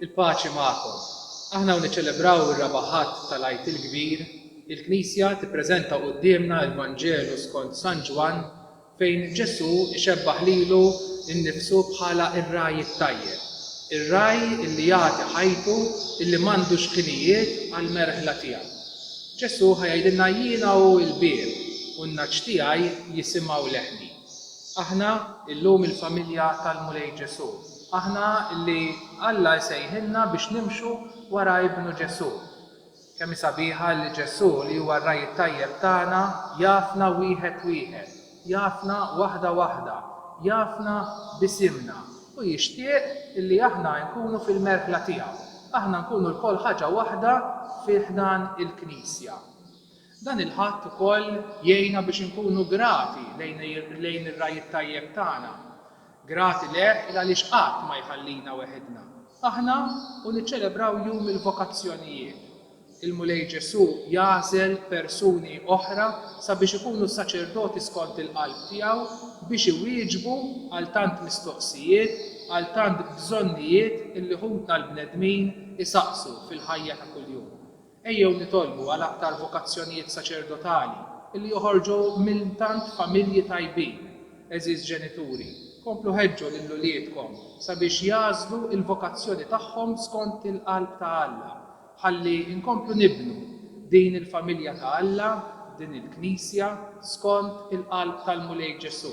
Il-paċi magħkom. Aħna u niċċelebraw ir-Raba' Ħadd tal-Għid il-Kbir, il-Knisja tippreżenta quddiemna l-Vanġelu skont San Ġwann fejn Ġesù ixebbah lilu nnifsu bħala r-ragħaj it-tajjeb, ir-ragħaj li jagħti ħajtu li m'għandux ħinijiet għall-merħla tiegħu. Ġesù ħa jgħidilna jiena hu l-bieb u n-nagħaġ tiegħi jisimgħu leħni. Aħna llum il-familja tal-Mulej Ġesù. Aħna li Alla jsejħilna biex nimxu wara Ibnu Ġesù. Kemm hi sabiħa li Ġesù li huwa r-Ragħaj it-Tajjeb tagħna jafna wieħed wieħed. Jafna waħda waħda, jafna b'isimna u jixtieq illi aħna nkunu fil-merħla tiegħu, aħna nkunu lkoll ħaġa waħda fi ħdan il-Knisja. Dan il-Ħadd ukoll jgħinna biex inkunu grati lejn ir-Ragħaj it-Tajjeb tagħna. Grati lejh il għaliex qatt ma jħallina weħidna, aħna u niċċelebraw Jum il-Vokazzjonijiet. Il-Mulej Ġesù jagħżel persuni oħra sabiex ikunu saċerdoti skont il-qalb tiegħu biex iwieġbu għal tant mistoqsijiet, għal tant bżonnijiet illi ħutna l-bnedmin isaqsu fil-ħajja ta' kuljum. Ejjew nitolbu għal aktar vokazzjonijiet saċerdotali li joħorġu minn tant familji tajbin. Għeżież ġenituri, komplu ħeġġu lil uliedkom sabiex jagħżlu l-vokazzjoni tagħhom skont il-qalb ta' Alla, ħalli nkomplu nibnu din il-familja ta' Alla, din il-Knisja, skont il-qalb tal-Mulej Ġesù.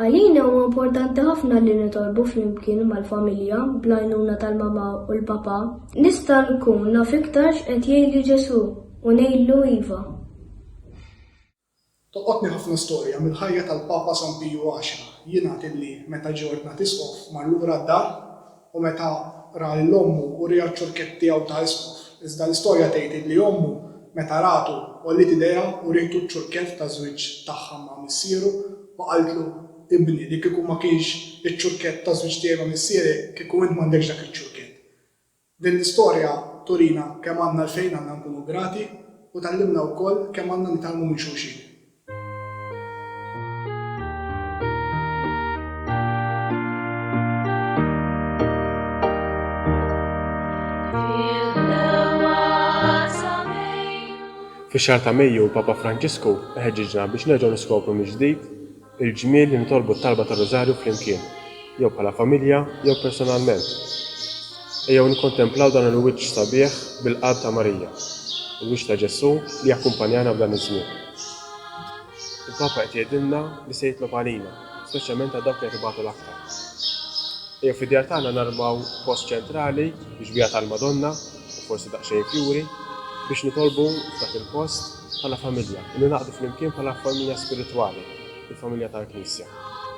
Għalina huwa importanti ħafna li nitolbu flimkien mal-familja bl-għajnuna tal-mamà u l-papà. Nista' nkun naf iktar x'qed jgħidli Ġesù u ngħidlu iva. Tolqotni ħafna storja mill-ħajja tal-Papa San Piju Għaxra. Jingħad illi meta ġie ordnat Isqof mar lura d-dar u meta ra lil ommu uriha ċ-ċurkett tiegħu ta' isqof, iżda l-istorja tgħid illi ommu meta ratu għolliet idejha urietu ċ-ċurkett taż-żwieġ tagħha ma' missieru u qaltlu, Ibni, li kieku ma kienx iċ-ċurkett taż-żwieġ tiegħi ma' missierek, kieku int m'għandekx dak iċ-ċurkett. Din l-istorja turina kemm għandna għalfejn għandna nkunu grati u tgħallimna wkoll kemm għandna nitgħallmu minn xulxin. Fix-xahar ta' Mejju l-Papa Franġisku iħeġġiġna biex nerġgħu niskopru mill-ġdid il-ġmiel li nitolbu t-talba tar-Rużarju flimkien. jew bħala familja, jew personalment. Ejjew nikkontemplaw dan il-wiċċ sabiħ bil-qalb ta' Marija, il-wiċċ ta' Ġesù li jakkumpanjana f'dan iż-żmien. Il-Papa qed jgħidilna li se jitlob għalina, speċjalment għal dawk li qed ibatu l-aktar. Ejjew fid-djar tagħna narmaw post ċentrali biex bija tal-Madonna, u forsi daqsxejn fjuri, biex nitolbu f'dak il-post bħala familja, u ningħaqdu flimkien bħala familja spiritwali, il-familja tal-Knisja.